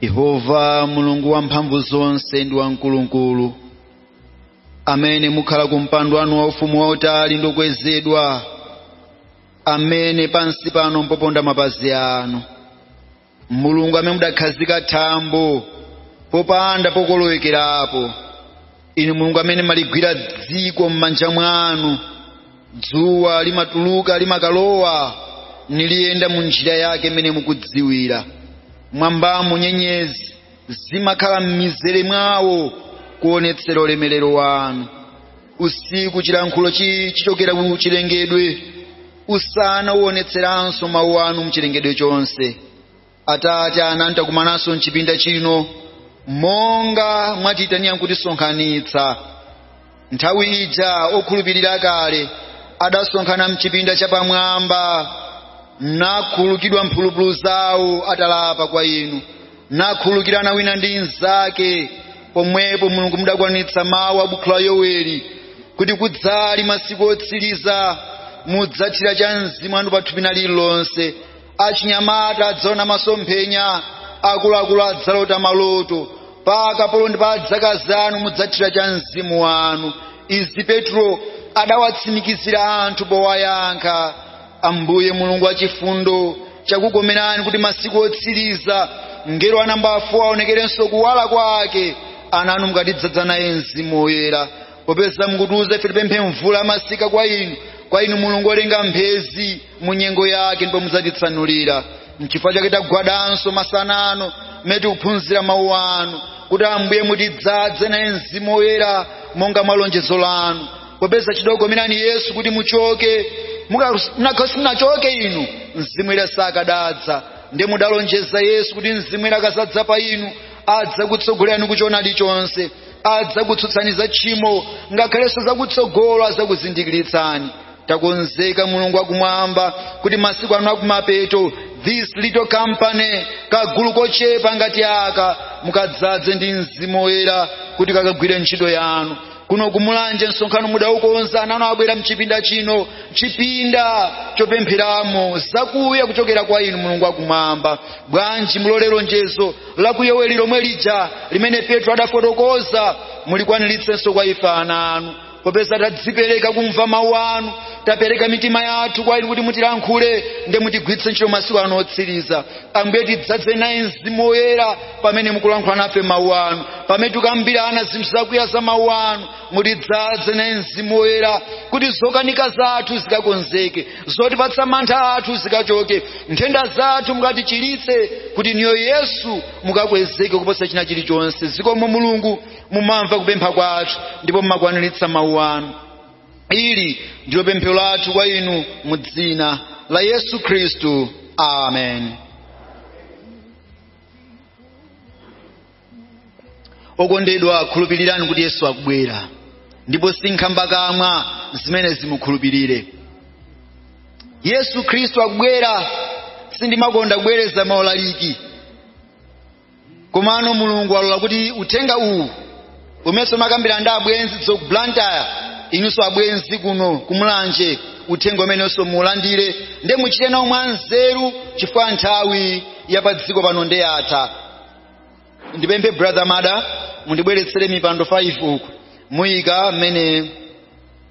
yehova mulungu wamphamvu zonse ndi wamkulukulu amene mukhala ku mpando wanu wa ufumu wautali ndi wokwezedwa amene pansi pano mpoponda mapazi anu mulungu amene mudakhazika thambo popanda pokolowekerapo inu mulungu amene mumaligwira dziko m'manja mwanu dzuwa limatuluka limakalowa niliyenda mu njira yake imene mukudziwira mmwambamo nyenyezi zimakhala m'mizere mwawo kuonetsera ulemerero wanu usiku chilankhulo chi- chichokera ku chilengedwe usana uonetseranso mawu anu mchilengedwe chonse atate ananu takumananso mchipinda chino monga mwatiitanira nkutisonkhanitsa nthawi ija okhulupirira kale adasonkhana mchipinda chapamwamba nakhulukidwa mphulupulu zawo atalapa kwa inu nakhulukirana wina ndi mnzake pomwepo mulungu mudakwanitsa mawu a bukhu la yoweli kuti kudzali masiku otsiriza mudzathira cha mzimu wanu pathupi lina lililonse achinyamata adzaona masomphenya akuluakulu adzalota maloto pa akapolo ndi pa adzakazi anu mudzathira cha mzimu wanu izi petro adawatsimikizira anthu powayankha ambuye mulungu wachifundo chakukomerani kuti masiku otsiriza mngelo wa nambala folo aonekerenso kuwala kwake ananu mukatidzaza naye mzimu woyera popeza mukutiuza ife tipemphe mvula ya masika kwa inu mulungu olenga mphezi mu nyengo yake ndipo mudzatitsanulira nchifukwa chake tagwadanso masana ano mmene tikuphunzira mawu anu kuti ambuye mutidzaze naye mzimu woyera monga mwa lonjezo lanu popeza chidakomera inu yesu kuti muchoke mukadapanda kuchoka inu mzimu woyera sakadadza ndiye mudalonjeza yesu kuti mzimu woyera akadzadza pa inu adzakutsogolerani kuchoonadi chonse adzakutsutsani za tchimo ngakhalenso zakutsogolo adzakuzindikiritsani takonzeka mulungu wakumwamba kuti masiku ano akumapeto this little company kagulu kochepa ngati aka mukadzaze ndi mzimu woyera kuti kakagwire ntchito yanu kuno kumulanje msonkhano mudaukonza ananu abwera mchipinda chino chipinda chopempheramo zakuya kuchokera kwa inu mulungu wakumwamba bwanji mulole lonjezo lakuyoweli lomwe lija limene petro adafotokoza mulikwaniritsenso kwa ife ana anu popeza tadzipereka kumva mawu anu tapereka mitima yathu kwa inu kuti mutilankhule ndi mutigwiritse ntchito masiku ano otsiriza ambuye tidzadze naye mzimu woyera pamene mukulankhula nafe mawu anu pamene tikambirana zinthu zakuya za mawu anu mutidzadze naye mzimu woyera kuti zokanika zathu zikakonzeke zotipatsa mantha athu zikachoke nthenda zathu mukatichiritse kuti inuyo yesu mukakwezeke kuposa china chilichonse zikomo mulungu mumamva kupempha kwathu ndipo mumakwaniritsa mawu anu ili ndilo pemphero lathu kwa inu mu dzina la yesu khristu amen okondedwa khulupirirani kuti yesu akubwera ndipo si nkhambakamwa zimene zimukhulupirire yesu khristu akubwera sindimakonda kubwereza maulaliki komano mulungu alola kuti uthenga uwu umenso umakambidwa ndi abwenzi a ku blantyre inunso abwenzi kuno kumulanje uthenga umenenso mulandire nde muchite nawo mwanzeru chifukwa nthawi ya pa dziko pano nde yatha ndipemphe brother mada mundibweretsere mipando 5 uku muyike mmene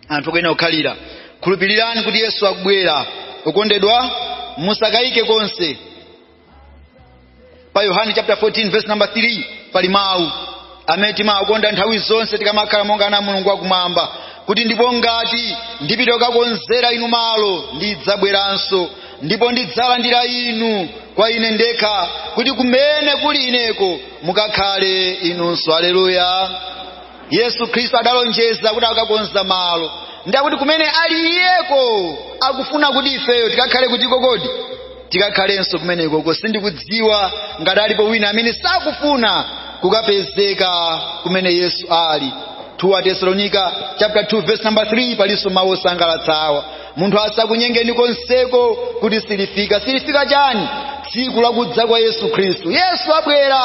anthu akuyenera kukhalira khulupirirani kuti yesu akubwera okondedwa musakayike konse pa yohane chapter 14 verse number 3 pali mawu amene timawakonda nthawi zonse tikamakhala monga ana a mulungu wakumwamba kuti ndipo ngati ndipita kukakonzera inu malo ndidzabweranso ndipo ndidzalandira inu kwa ine ndekha kuti kumene kuli ineko mukakhale inunso aleluya yesu khristu adalonjeza kuti akakonza malo ndi akuti kumene ali iyeko akufuna kuti ifeyo tikakhale kuti ko kodi tikakhalenso kumenekoko sindikudziwa ngati alipo wina amene sakufuna kukapezeka kumene yesu ali 2 atesalonika chapter 2 verse number 3 palinso mawu osangalatsa awa munthu asakunyengeni konseko kuti silifika silifika chani tsiku lakudza kwa yesu khristu yesu abwera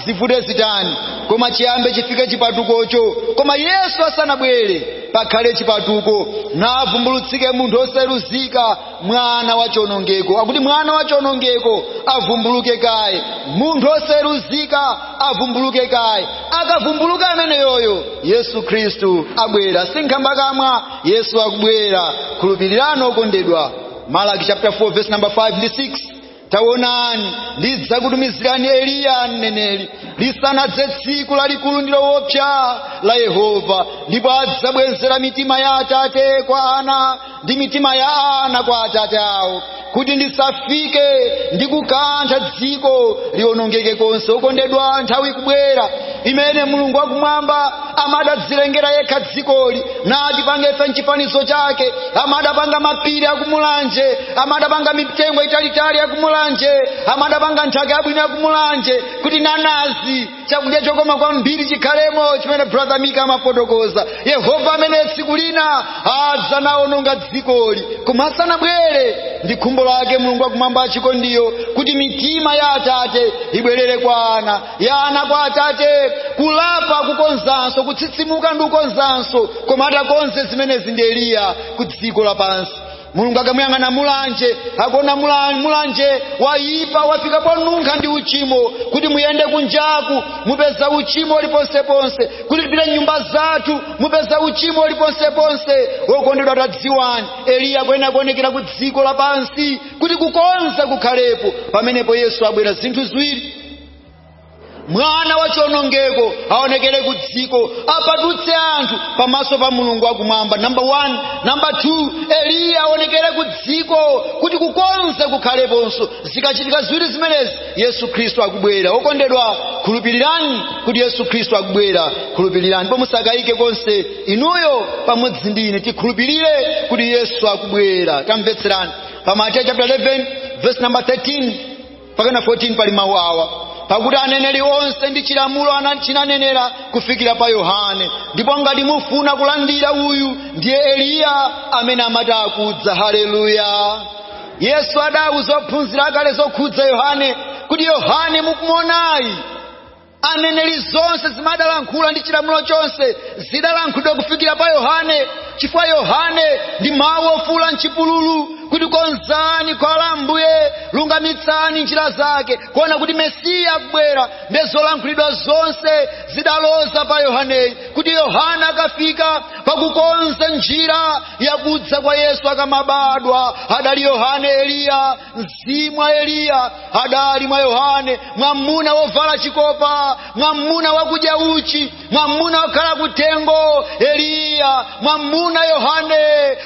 zivute zitani koma chiyambe chifike chipatukocho koma yesu asanabwere pakhale chipatuko navumbulutsike munthu osayeruzika mwana wa chonongeko akuti mwana wa chonongeko avumbuluke kaye munthu osayeruzika avumbuluke kaye akavumbuluka ameneyoyo yesu khristu abwera si nkhambakamwa yesu akubwera khulupirirani okondedwa malaki chapter 4 verse number 5 ndi 6 taonani ndidzakutumizirani eliya mneneri lisanadze tsiku lalikulu ndi lowopsa la yehova ndipo adzabwezera mitima ya atate kwa ana ndi mitima ya ana kwa atate awo kuti ndisafike ndi kukantha dziko lionongeke konse okondedwa nthawi ikubwera imene mulungu wakumwamba amadadzilengera yekha dzikoli natipanga ife mchifanizo chake amadapanga mapiri akumulanje amadapanga mitengo italitali yakumulanje amadapanga nthaka yabwino yakumulanje kuti nanazi chakudya chokoma kwambiri chikhalemo chimene brother mika amafotokoza yehova amene tsiku lina adzanaononga dzikoli koma asanabwere ndi khumbo lake mulungu wakumwamba wachikondiyo kuti mitima ya atate ibwerere kwa ana ya ana kwa atate kulapa kukonzanso kutsitsimuka ndi kukonzanso koma atakonze zimenezi ndi eliya ku dziko lapansi mulungu akamuyang'ana mulanje akuona mula- mulanje wayipa wafika ponunkha ndi uchimo kuti muyende kunjaku mupeza uchimo uliponseponse kuti tipite mnyumba zathu mupeza uchimo uliponseponse wokondedwa tadziwani eliya akuyenera kuonekera ku dziko lapansi kuti kukonza kukhalepo pamenepo yesu abwera zinthu ziwiri mwana wa chionongeko aonekere ku dziko apatutse anthu pamaso pa mulungu wakumwamba namba 1 namba 2 eliya aonekere ku dziko kuti kukonza kukhaleponso zikachitika ziwiri zimenezi yesu khristu akubwera okondedwa khulupirirani kuti yesu khristu akubwera khulupirirani ndipo musakayike konse inuyo pamodzi ndi ine tikhulupirire kuti yesu akubwera tamvetserani pa mateyu chapter 11 verse number 13 mpaka na 14 pali mawu awa pakuti aneneri onse ndi chilamulo ana- chinanenera kufikira pa yohane ndipo ngati mufuna kulandira uyu ndiye eliya amene amati akudza haleluya yesu adauza ophunzira akale zokhudza yohane kuti yohane mukumuonayi aneneri zonse zimadalankhula ndi chilamulo chonse zidalankhulidwa kufikira pa yohane chifukwa yohane ndi mawu ofuula mchipululu kuti konzani khwalala la ambuye lungamitsani njira zake kuona kuti mesiya akubwera nde zolankhulidwa zonse zidaloza pa yohaneyi kuti yohane akafika pakukonza njira yakudza kwa yesu akamabadwa adali yohane eliya mzimu wa eliya adali mwa yohane mwamuna wovala chikopa mwamuna wakudya uchi mwamuna wokhala kutengo eliya mwamuna yohane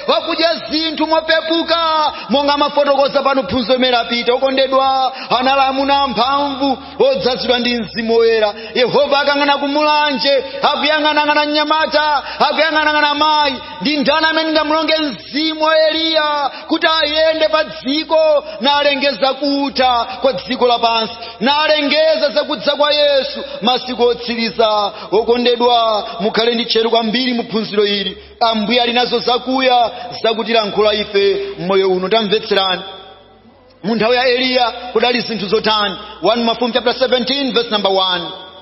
wakudya zinthu mopepuka monga amafotokoza pano phunzo imene apita okondedwa anali amuna amphamvu odzazidwa ndi mzimu woyera yehova akayang'ana ku Mulanje akuyang'anang'ana mnyamata akuyang'anang'ana mayi ndi ndani amene ndingamulonge mzimu wa eliya kuti ayende pa dziko nalengeza kutha kwa dziko lapansi nalengeza zakudza kwa yesu masiku otsiriza okondedwa mukhale ndi tcheru kwambiri mu phunziro ili ambuye ali nazo zakuya zakutilankhula ife mmoyo uno tamvetserani mu nthawi ya eliya kudali zinthu zotani 1 mafumu chapter 17 verse number 1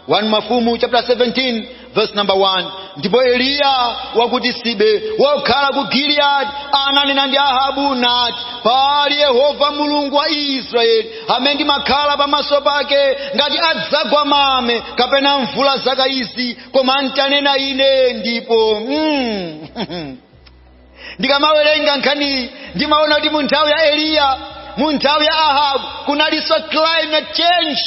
1 mafumu chapter 17 verse number 1 ndipo eliya wa ku tisibe wokhala ku gileyadi ananena ndi ahabu nati pali yehova mulungu wa israeli amene ndimakhala pamaso pake ngati adzagwa mame kapena mvula zaka izi koma ntanena ine ndipo mm. ndikamawerenga nkhaniyi ndimaona kuti mu nthawi ya eliya mu nthawi ya ahabu kunalinso climate change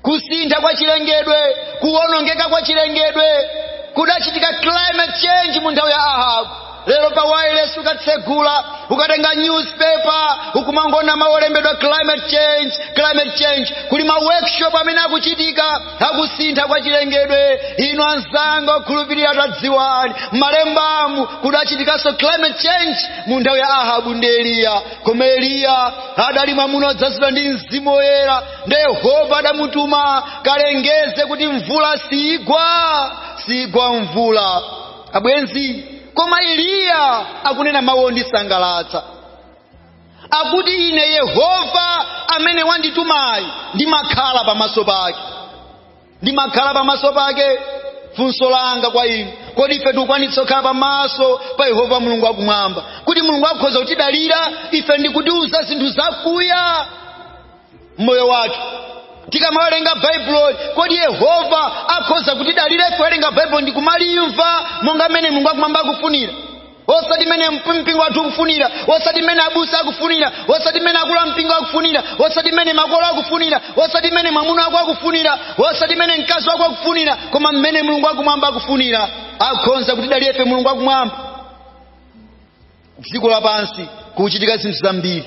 kusintha kwa chilengedwe kuwonongeka kwa chilengedwe kudachitika climate change mu nthawi ya ahabu lero pa wireless ukatsegula ukatenga newspaper ukumangona mawu olembedwa climate change climate change kuli ma workshop amene akuchitika akusintha kwa chilengedwe inu anzanga okhulupirira tadziwani m'malembamu kudachitikanso climate change mu nthawi ya ahabu ndi eliya koma eliya adali mwamuna odzazidwa ndi mzimu woyera ndi yehova adamutuma kalengeze kuti mvula siigwa siigwa mvula abwenzi koma eliya akunena mawu ondisangalatsa akuti ine yehova amene wanditumayi ndimakhala pamaso pake ndimakhala pamaso pake funso langa kwa inu kodi ife tikukwanitsa kukhala pamaso pa yehova mulungu wakumwamba kuti mulungu akhoza kutidalira ife ndikutiuza zinthu zakuya mmoyo wathu tikamawerenga baibuloli kodi yehova akhoza kutidalira ife kuwerenga baibulo ndikumalimva monga mmene mulungu wakumwamba akufunira osati mmene mpingo wathu ukufunira osati mmene abusa akufunira osati mmene akulu a mpingo akufunira osati mmene makolo akufunira osati mmene mwamuna wako akufunira osati mmene mkazi wako akufunira koma mmene mulungu wakumwamba akufunira akhonza kutidalira ife mulungu wakumwamba dziko lapansi kukuchitika zinthu zambiri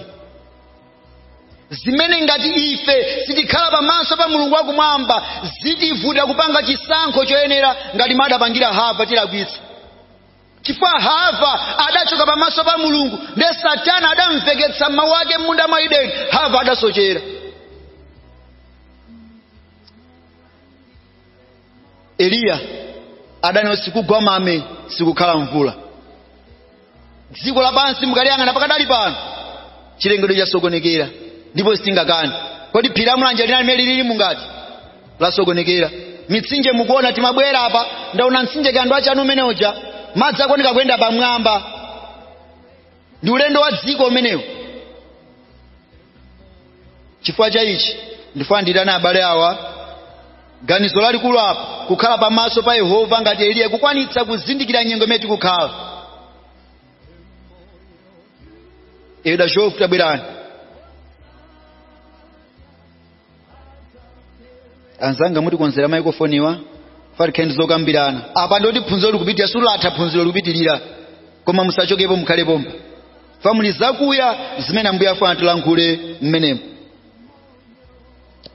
zimene ngati ife sitikhala pamaso pa mulungu wakumwamba zitivuta kupanga chisankho choyenera ngati m'adapangira hava tilakwitsa chifukwa hava adachoka pamaso pa mulungu ndiye satana adamveketsa mawu ake m'munda mwa ideni hava adasochera eliya adanena sikugwa mame sikukhala mvula dziko lapansi mukaliyang'ana pakadali pano chilengedwe chasokonekera ndipo sitingakani kodi phiri la mulanje linali mene lilili mungati lasokonekera mitsinje mukuona timabwera apa ndaona mtsinje kando wa chanu umene uja madzi akuoneka kuyenda pamwamba ndi ulendo wa dziko umenewo chifukwa cha ichi ndifuna ndiitane abale awa ganizo lalikulu apa kukhala pamaso pa yehova ngati eliya kukwanitsa kuzindikira nyengo imene tikukhalayi dachofu tabwerani anzanga mutikonzera maikofoniwa fa tikhale ndi zokambirana apa nditi phunziro likupitirira silatha phunziro likupitirira koma musachokepo mukhale pompa fa muli zakuya zimene ambuye afuna tilankhule mmenemo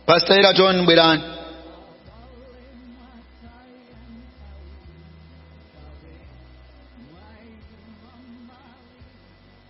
pastor eraton bwerani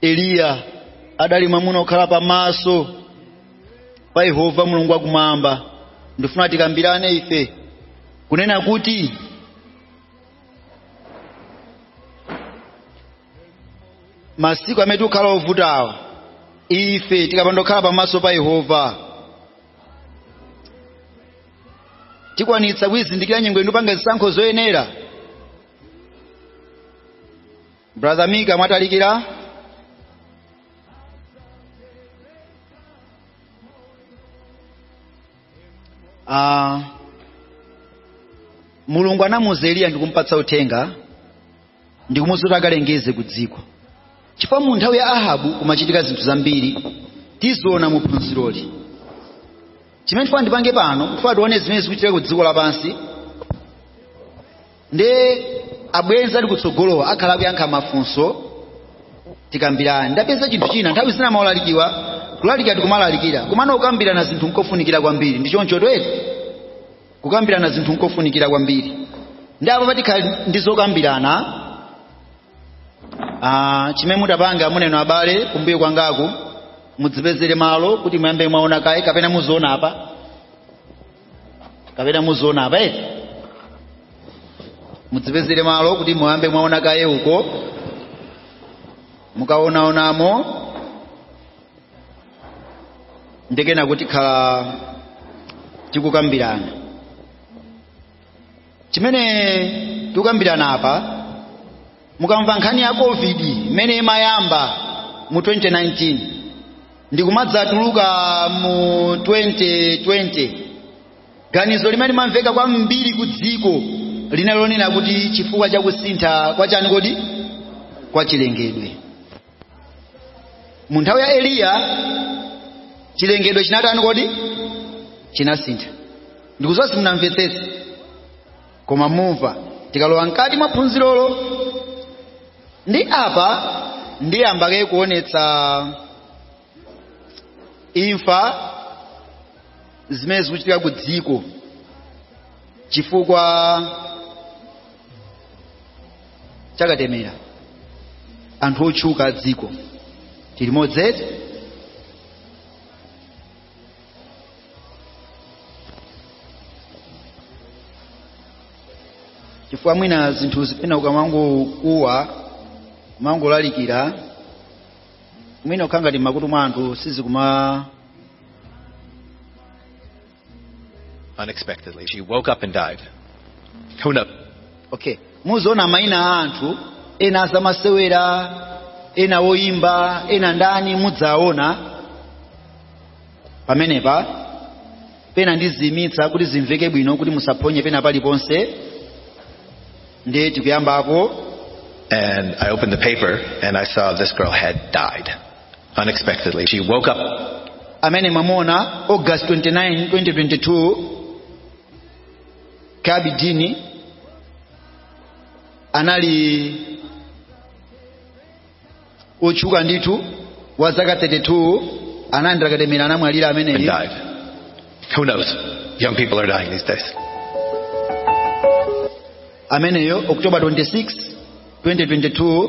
eliya adali mwamuna okhala pamaso pa yehova mulungu wakumwamba ndifuna tikambirane ife kunena kuti masiku amene tikukhala ovutawa ife tikapanda kukhala pamaso pa yehova tikwanitsa kuyizindikira nyengo ndi kupanga zisankho zoyenera brother mika mwatalikira uh, mulungu anamuuza eliya ndikumpatsa uthenga ndikumuuza kuti akalengeze ku dziko chifukwa mu nthawi ya ahabu kumachitika zinthu zambiri tiziona mu phunziroli chimene ndifuna ndipange pano ndifuna tione zimene zikuchitika ku dziko lapansi nde abwenzi ali kutsogolowa akhala akuyankha mafunso tikambirana ndapeza chinthu china nthawi zina maulalikiwa kulalikira tikumalalikira komano kukambirana zinthu nkofunikira kwambiri ndi choncho tweti kukambirana zinthu nkofunikira kwambiri nde apa patikhala ndi zokambirana ah, chimene mutapanga inu abale kumbuyo kwangaku mudzipezere malo kuti muyambe mwaona kaye kapena muziona apa kapena muziona apa eti mudzipezere malo kuti muyambe mwaona kaye uko mukaonaonamo nde kenako tikhala tikukambirana chimene tikukambirana apa mukamva nkhani ya covid imene imayamba mu 2019 ndikumadzatuluka mu 2020 ganizo limene limamveka kwambiri ku dziko linali lonena kuti chifukwa cha kusintha kwa chani kodi kwa chilengedwe mu nthawi ya eliya chilengedwe chinatani kodi chinasintha ndikuziwa simunamvetsetse koma mumva tikalowa mkati mwa phunzirolo ndiye apa ndiyamba kaye kuonetsa imfa zimene zikuchitika ku dziko chifukwa chakatemera anthu otchuka a dziko tili limodzi eti chifukwa mwina zinthuzi pena ukamangokuwa kumangolalikira mwina ukhala ngati m'makutu mwa anthu sizikuma Unexpectedly, she woke up and died. Who knows? okay muziona maina a anthu ena azamasewera ena oyimba ena ndani mudzaona pamenepa pena ndiziyimitsa kuti zimveke bwino kuti musaphonye pena paliponse ndiye tikuyambapo And I opened the paper and I saw this girl had died unexpectedly. She woke up amene mwamuona august 29 2022 Charlbi Dean anali otchuka ndithu wa zaka 32 analandira katemera anamwalira and ameneyi died. Who knows? Young people are dying these days. ameneyo october 26 2022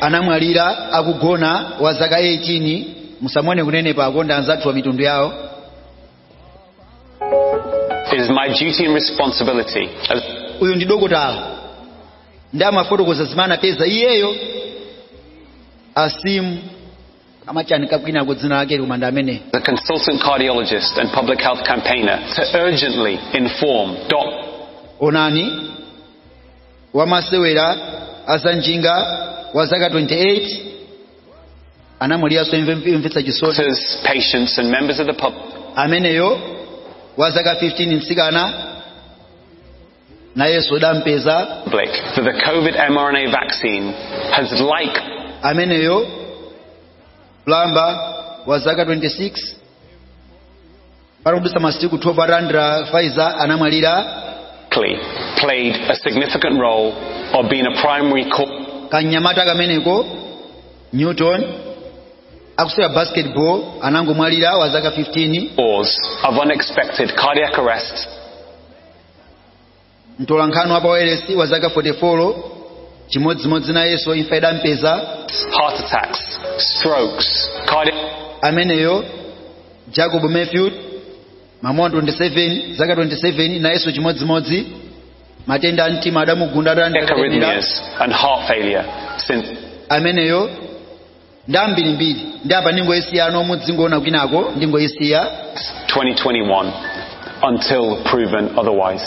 anamwalira akugona wa zaka 18 musamuone kunenepako ndi anzathuwa mitundu yawo It is my duty and responsibility as uyu ndi dokotala ndiye amafotokoza zimene anapeza iyeyo Aseem amachanika kwinako dzina lakeli koma ndi ameneyi a consultant cardiologist and public health campaigner to urgently inform doctors. onani wamasewera azanjinga wa zaka 28 anamwaliranso imfa yomvetsa chisoni Doctors, patients, and members of the public. ameneyo wa zaka 15 mtsikana nayenso idampeza That the COVID mRNA vaccine has like ameneyo pulamba wa zaka 26 patadutsa masiku 12 atalandira Pfizer anamwalira Clearly played a significant role or been a primary cause kanyamata kameneko newton akusewera basketball anangomwalira wa zaka 15 of unexpected cardiac arrest mtolankhani wa pawailesi wa zaka 44 chimodzimodzi nayenso imfa idampeza heart attacks, strokes, cardiac ameneyo jacob matthew mamuna 27 zaka 27 nayenso chimodzimodzi matenda a mtima adamugunda adandakalira arrhythmias, and heart failure since ameneyo ndi ambirimbiri ndi apa ndingoyisiya inu mudzingoona kwinako ndingoyisiya 2021 until proven otherwise.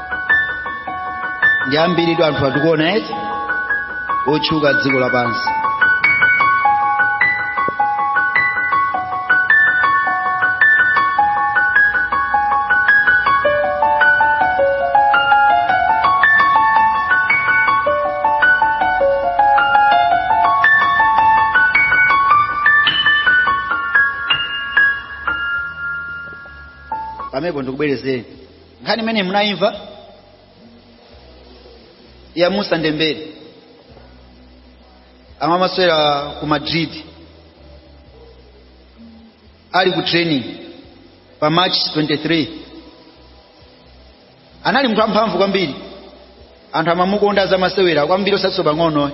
ndi ambiritu anthu atikuona eti otchuka dziko lapansi pamenepo ndikubwerezeni nkhani imene munayimva ya moussa dembele ama- amasewera ku madrid ali ku training pa march 23 anali munthu amphamvu kwambiri anthu amamukonda a zamasewera kwambiri osatinso pang'ono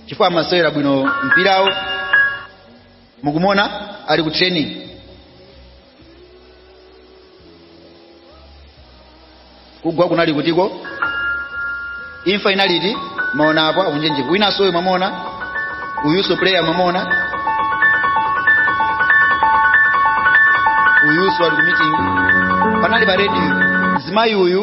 chifukwa amasewera bwino mpirawo mukumuona ali ku training kugwa kunali kutiko imfa inali iti mwaona apo akunjenjeka winanso uyu mwamuona uyuso player mwamuona uyuso ali ku meeting panali pa radio mzimayi uyu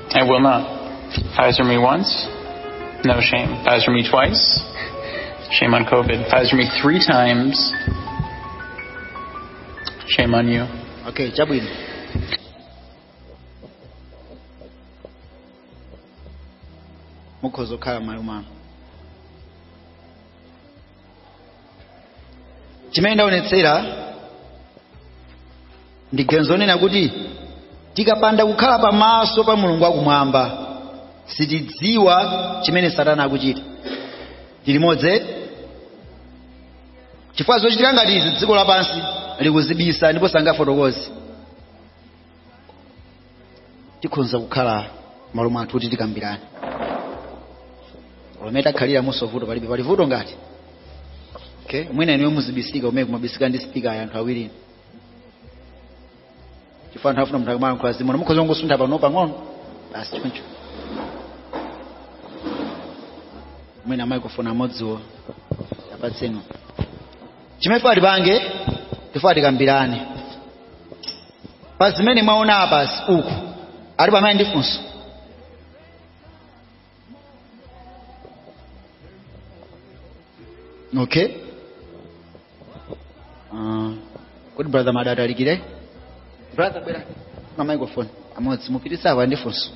I will not. Pfizer me once, no shame. Pfizer me twice, shame on COVID. Pfizer me three times, shame on you. Okay, chabwino. Mukhoza kukhala malumano. chimene ndaonetsera ndi ganizo lonena kuti tikapanda kukhala pamaso pa mulungu wakumwamba sitidziwa chimene satana akuchita tilimodzi chifukwa zochitika ngati izi dziko lapansi likuzibisa ndipo sangafotokoze tikhonza kukhala m'malo mwathu kuti tikambirane pamene takhalira muno vuto palibe pali vuto ngati okay mwina inuyo muzibisika umene kumabisika ndi sipika ya anthu awiri chifukwa anthu afuna munthu akamalankhula azimuona mukhoza kungosuntha pano pang'ono basi choncho mwina microphone amodziwo apatseni chimene tifuna tipange tifuna tikambirane pa zimene mwaona apazi uku ali amene ali ndi funso okay uh, kodi brother madata ali kuti brother bwerani ndi microphone imodzi mupititse apa ndi funso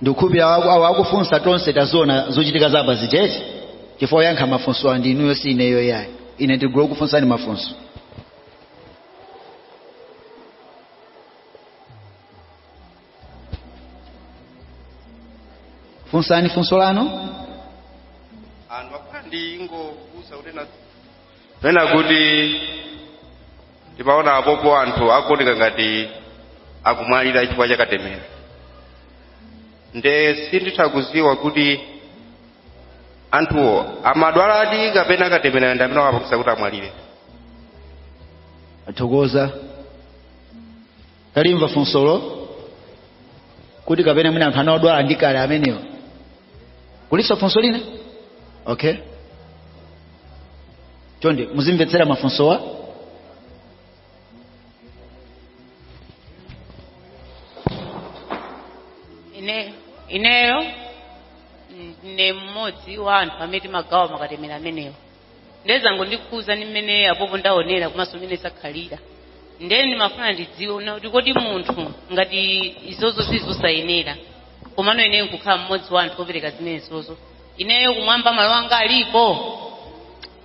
ndikukhulupirira awa- awa akufunsa tonse taziona zochitika za apazi eti chifukwa oyankha mafunso ndi inuyo si ineyo yayi ine ndingo kufunsani mafunso funsani funso lanu anthu akhala ndi ingokusa kuti na pena kuti ndimaona apopo anthu akuoneka ngati akumwalira chifukwa cha katemera nde sinditha kudziwa kuti anthuwo amadwaladi kapena katemerayo ndi amene wapangisa kuti amwalire tathokoza talimva funsolo kuti kapena mwina anthu anali odwala ndi kale amenewo kulinso funso lina okay chonde muzimvetsera mafunsowa ine ineyo mm, ndine mmodzi wa anthu amene timagawa makatemera amenewo ndiye zangondikhudza ndi mmene apopo ndaonera komanso mmene zakhalira ndiye ndimafuna ndidziwe kunena kuti kodi munthu ngati izozo zili zosayenera komano ineyo nkukhala mmodzi wa anthu opereka zimenezozo ineyo kumwamba malo anga alipo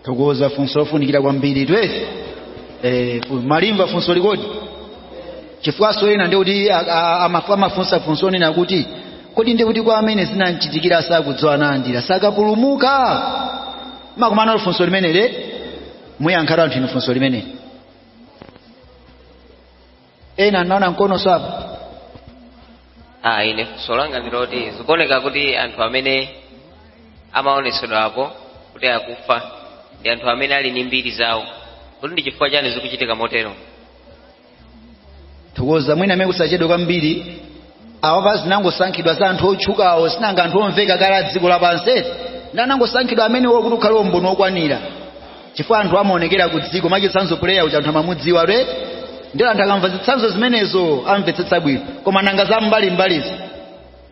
tathokoza funso lofunikira kwambiri twezi eh, fu- mwalimva funsoli kodi chifukwanso ena ndikuti amafunsa funso lonena kuti kodi ndi kuti kwa amene zinamchitikira sakudziwa nalandira sakapulumuka mwakumana nalo funso limeneli muyankhatu anthu inu funso limeneli ena anaona mkono apo ah ine funso langa ndiloti zikuoneka kuti anthu amene amaonetsedwa apo kuti akufa ndi anthu amene ali ndi mbiri zawo kuti ndi chifukwa chani zikuchitika motero thokoza mwina amene tisachedwe kwambiri awapa zinangosankhidwa za anthu otchukawo sinanga anthu omveka kale a dziko lapansi eti anangosankhidwa amenewo kuti ukhale umboni wokwanira chifukwa anthu amaonekera ku dziko mwachitsanzo puleya uja anthu amamudziwa re ndilo anthu akamva zitsanzo zimenezo amvetsetsa bwino koma nanga za mbalimbalizo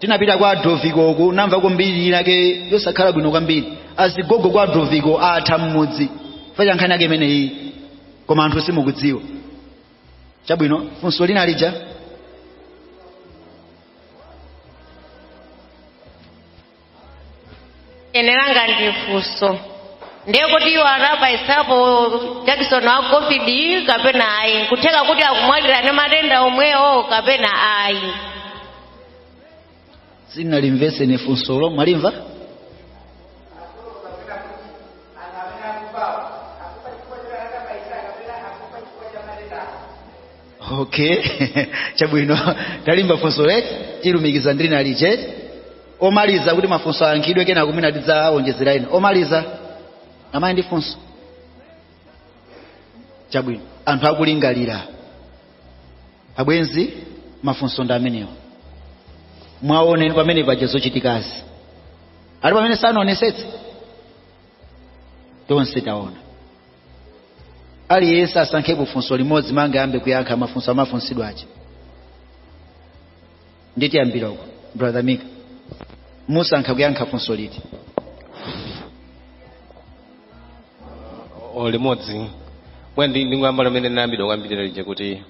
tinapita kwa adoviko uku namva mbiri inake yosakhala bwino kwambiri azigogo kwa adoviko atha mmudzi facha nkhani yake imeneyi koma anthu simukudziwa chabwino funso lina lija ine langa ndi funso ndi kuti iwo anabayitsapo jakisoni wa covid kapena ayi kutheka kuti akumwalira ndi matenda omwewo kapena ayi sindinalimvetse ine funsolo mwalimva okay chabwino talimva funso eti tilumikiza ndi lina lija omaliza kuti mafunso ayankhidwe kenako mwina tidzaonjezera ena omaliza amayi ndi funso chabwino anthu akulingalira abwenzi mafunso ndi amenewo mwaona pamene paja zochitikazi ali pamene sanaonetsetse tonse taona aliyense asankhepo funso limodzi mungayambe kuyankha mafunso amafunsidwa aja tiyambira uko brother mika mwasankha kuyankha funso liti o limodzi inde ndi- ndingoyamba limene linayambidwa kuyambirira lija kuti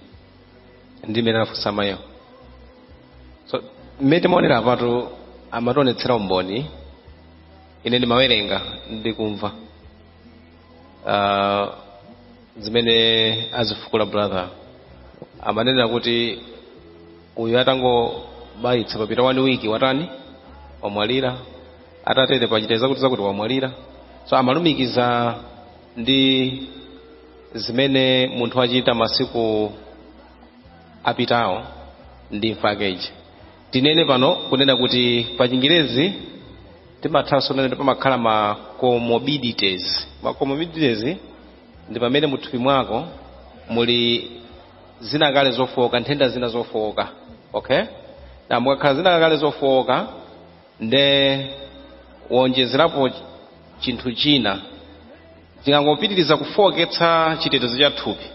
limene anafunsa mayiwo so mmene timaonera apatu amationetsera umboni ine ndimawerenga ndikumva uh, zimene azifukula brother amanena kuti uyu atangobayitsa papita one week watani wamwalira atatere wachita zakuti zakuti wamwalira so amalumikiza ndi zimene munthu wachita masiku apitawo ndi mafakedwe tinene pano kunena kuti pa chingerezi timathanso kunena kuti pamakhala ma comorbidities ma comorbidities ndi pamene muthupi mwako muli zina kale zofowoka nthenda zina zofowoka okay ndiye mukakhala zina kale zofowoka nde waonjezerapo chinthu china chimangopitiriza kufowoketsa chitetezo cha thupi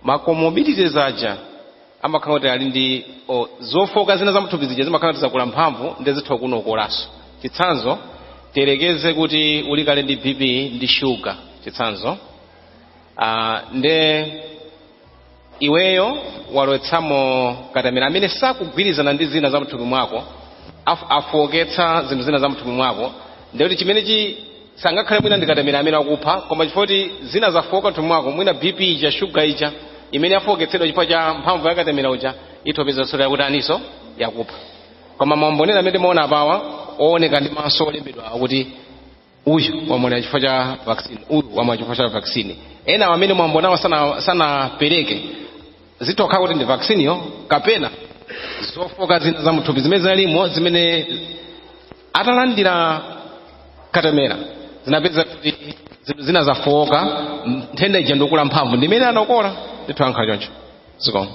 ma comorbidities aja amakhala kuti ali ndi o, zofooka zina zamthupi zija zimakhala kuti zakula mphamvu ndi zitha kukukolanso chitsanzo tiyerekeze kuti uli kale ndi bp ndi shuga chitsanzo ah, nde iweyo walowetsamo katemera amene sakugwirizana ndi zina za mthupi mwako af- afooketsa zinthu zina za mthupi mwako nde kuti chimene chi sangakhale mwina ndikatemera amene wakupha koma chifukwa kuti zina zafooka mthupi mwako mwina bp ija shuga ija imene yafooketsedwa chifukwa cha mphamvu yakatemera uja ithano kupeza yakuti nayonso yakupha koma maumboni amene timaona apawa owoneka ndi maso olembedwa akuti uyu wamwalira chifukwa cha vaccine uyu wamwalira chifukwa cha vaccine ena amene mwambonawa sana- sanapereke zitha kukhala kuti ndi vaccine yo kapena zofooka zina za mthupi zimene zinalimo zimene atalandira katemera zinapeza kuti zinthu zina zafowoka nthenda ija ndikula mphamvu ndimene yawakola ndithu zimakhala choncho zikomo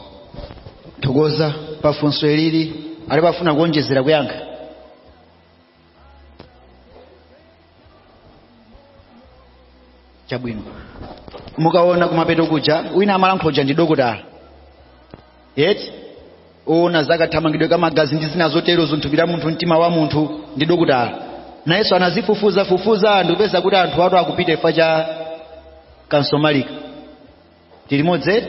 tathokoza pafunso ili alipo afuna kuonjezera kuyankha chabwino mukaona kumapeto kuja wina amalankhula uja ndi dokotala eti oona zakathamangidwe ka magazi ndi zina zotero za m'thupi la munthu mtima wa munthu ndi dokotala nayenso anazifufuza fufuza ndikupeza kuti anthu ato akupita imfa chifukwa cha kansomalika tilimodzi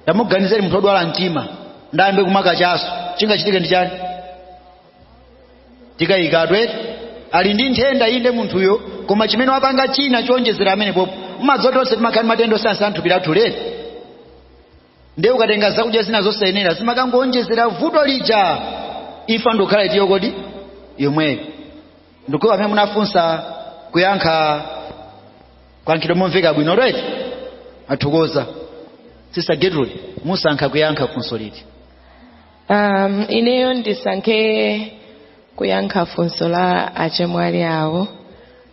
tangoganizani munthu odwala mtima ndiye ayambe kumakachaso chingachitike ndi chani sitikukayika kuti ali ndi nthenda inde munthuyo koma chimene wapanga china choonjezera amene pompo m'madziwa tonse timakhala ndi matenda osiyana siyana m'thupi lathu eti ndiye ukatenga zakudya zina zosayenera zimakangowonjezera vuto lija imfa ndikukhala iti yo koma ndi yomweyo ndikhulupirira amene munafunsa kuyankha kwayankhidwa momveka bwino right tathokoza sister gertrude musankha kuyankha funso liti um, ineyo ndisankhe kuyankha funso la achemwali awo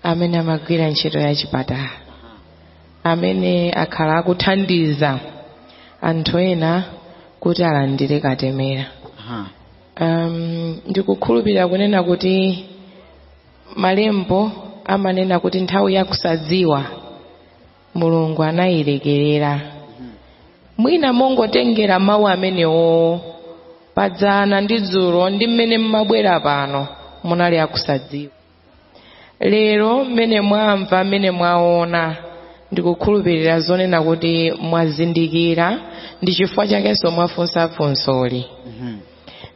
amene amagwira ntchito ya chipatala amene akhala akuthandiza anthu ena kuti alandire katemera Aha. um, ndikukhulupirira kunena kuti malembo amanena kuti nthawi yakusadziwa mulungu anayilekerera mwina mongotengera mawu amenewo padzana ndi dzulo ndi mmene mmabwera pano munali akusadziwa lero mmene mwamva mmene mwaona ndikukhulupirira kunena kuti mwazindikira ndi chifukwa chakenso mwafunsa funsoli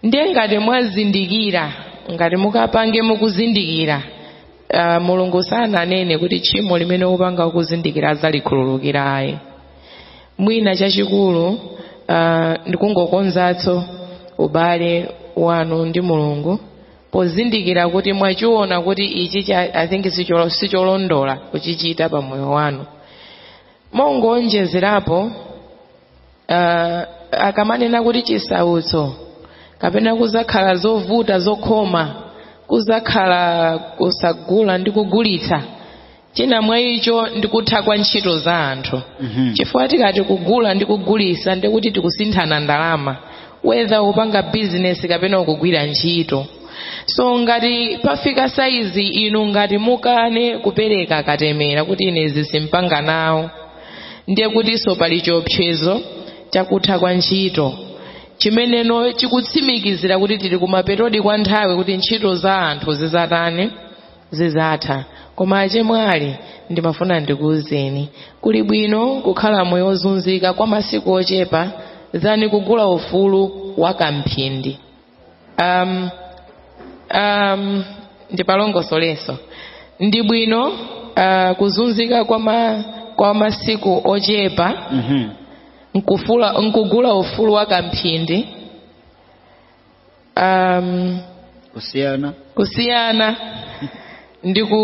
ndiye ngati mwazindikira ngati mukapange mukuzindikira uh, mulungu sananene kuti tchimo limene upanga ukuzindikira adzalikhululukira ayi mwina chachikulu uh, ndikungokonzatso ubale wanu ndi mulungu pozindikira kuti mwachiona kuti ichi cha- i think sicholo- sicholondola kuchichita pa moyo wanu mongoonjezerapo uh, akamanena kuti chisautso kapena kuzakhala zovuta zokhoma kuzakhala kusagula ndi kugulitsa china mwa icho ndi kutha kwa ntchito za anthu Mhm. chifukwa tikati kugula ndi kugulisa ndi kuti tikusinthana ndalama whether upanga bizinesi kapena ukugwira ntchito so ngati pafika saizi inu ngati mukane kupereka katemera kuti ine izi simpanga nawo ndiye kutinso pali chiopsezo chakutha kwa ntchito chimene chikutsimikizira kuti tili kumapetodi kwa nthawi kuti ntchito za anthu zizatani zizatha koma achemwali ndimafuna ndikuuzeni kuli bwino kukhala moyo wozunzika kwa masiku ochepa than kugula ufulu wa kamphindi um, um, ndipalongosolenso ndi bwino uh, kuzunzika kwa, ma, kwa masiku ochepa Mhm. nkufula nkugula ufulu wa kamphindi um, kusiyana kusiyana ndi ku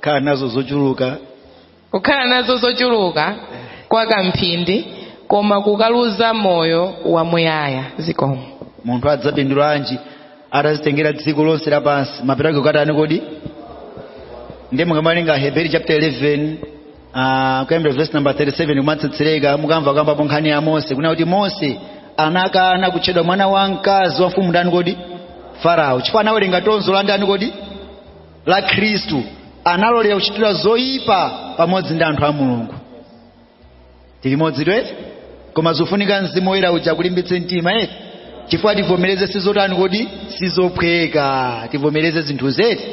khala nazo zochuluka kukhala nazo zochuluka kwa kamphindi koma kukaluza moyo wamuyaya zikomo munthu adzapindulanji atazitengera dziko lonse lapansi mapeto ake kukatani kodi ndiye mukawerenga heberi chapter 11 Ah, kuyambira verse number 37 kumatsetsereka mukamva akukambapo nkhani ya mose kunena kuti mose anakana kutchedwa mwana wa mkazi wa mfumu ndani kodi farao chifukwa anawerenga tonzo la ndani kodi la khristu analolera kuchitidwa zoyipa pamodzi ndi anthu a mulungu tilimodzi eti koma zofunika mzimu woyera uja kulimbitse mtima eti chifukwa tivomereze sizotani kodi sizophweka tivomereze zinthu zeti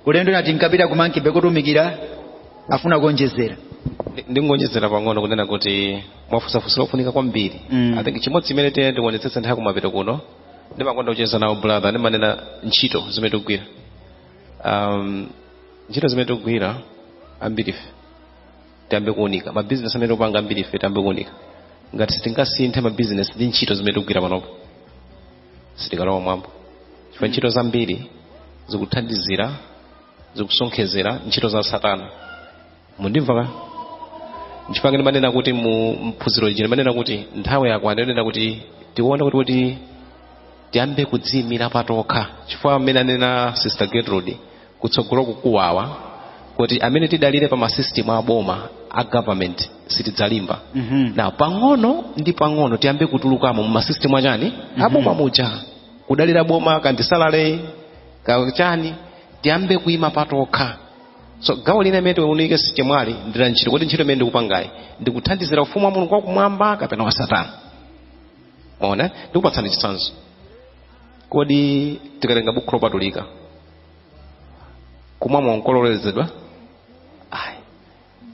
ulendo tinati tinkapita kumankibe kotumikira afuna kuonjezera Ndi- ndingonjezera pang'ono kunena kuti mwafunsa funso lofunika kwambiri Mm. i think chimodzi chimene tiyeni tionetsetse nthawi kumapeto kuno ndimakonda kucheza nawo brother ndimanena ntchito zimene tikugwira um, ntchito zimene tikugwira ambirife tiyambe kuunika mabizinesi amene tikupanga ambiri ife tiyambe kuunika ngati sitingasinthe mabizinesi ndi ntchito zimene tikugwira panopa sitikalowa mwambo chifukwa ntchito zambiri zikuthandizira zikusonkhezera ntchito za satana mukundimva eti nchifukwa ngati manena kuti mu mphunziro ichi manena kuti nthawi yako ananena kuti tione kuti kuti tiyambe kudziyimira patokha chifukwa amene anena sister gertrude kutsogolo kukubwera kuti amene tidalire pa masystem a boma a government sitidzalimba Mhm. nde pang'ono ndi pang'ono tiyambe kutulukamo mu masystem achani aboma muja kudalira boma kandisamale kachani tiyambe kuima patokha so gawo lina imene tiunike achemwali ndi la ntchito kodi ntchito imene ndikupangayi ndikuthandizira ufumu wa mulungu wakumwamba kapena wa satana mwaona ndikupatsani chitsanzo kodi tikatenga bukhu lopatulika kumwa mowa nkololezedwa ayi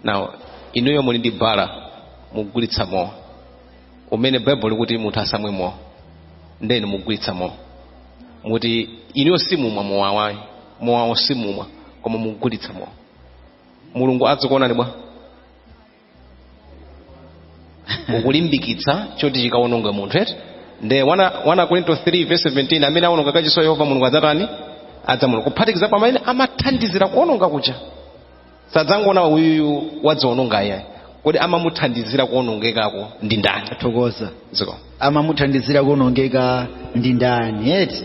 now inuyo muli ndi bala mugulitsa mowa umene baibulo likuti munthu asamwe mowa ndeni mugulitsa mowa muti inuyo simumwa mowawo ayi mowawo simumwa koma mugulitsa mowa mulungu adzikuonani bwa ukulimbikitsa choti chikawononge munthu eti nde 1 akorinto 3 verse 17 amene awononga kachisi wa yehova mulungu adzatani adzamuononga kuphatikiza pa amene amathandizira kuwononga kuja sadzangoona kuti uyuyu wadziwononga ayayi kodi amamuthandizira kuwonongekako ndi ndani athokoza ziko amamuthandizira kuonongeka ndi ndani eti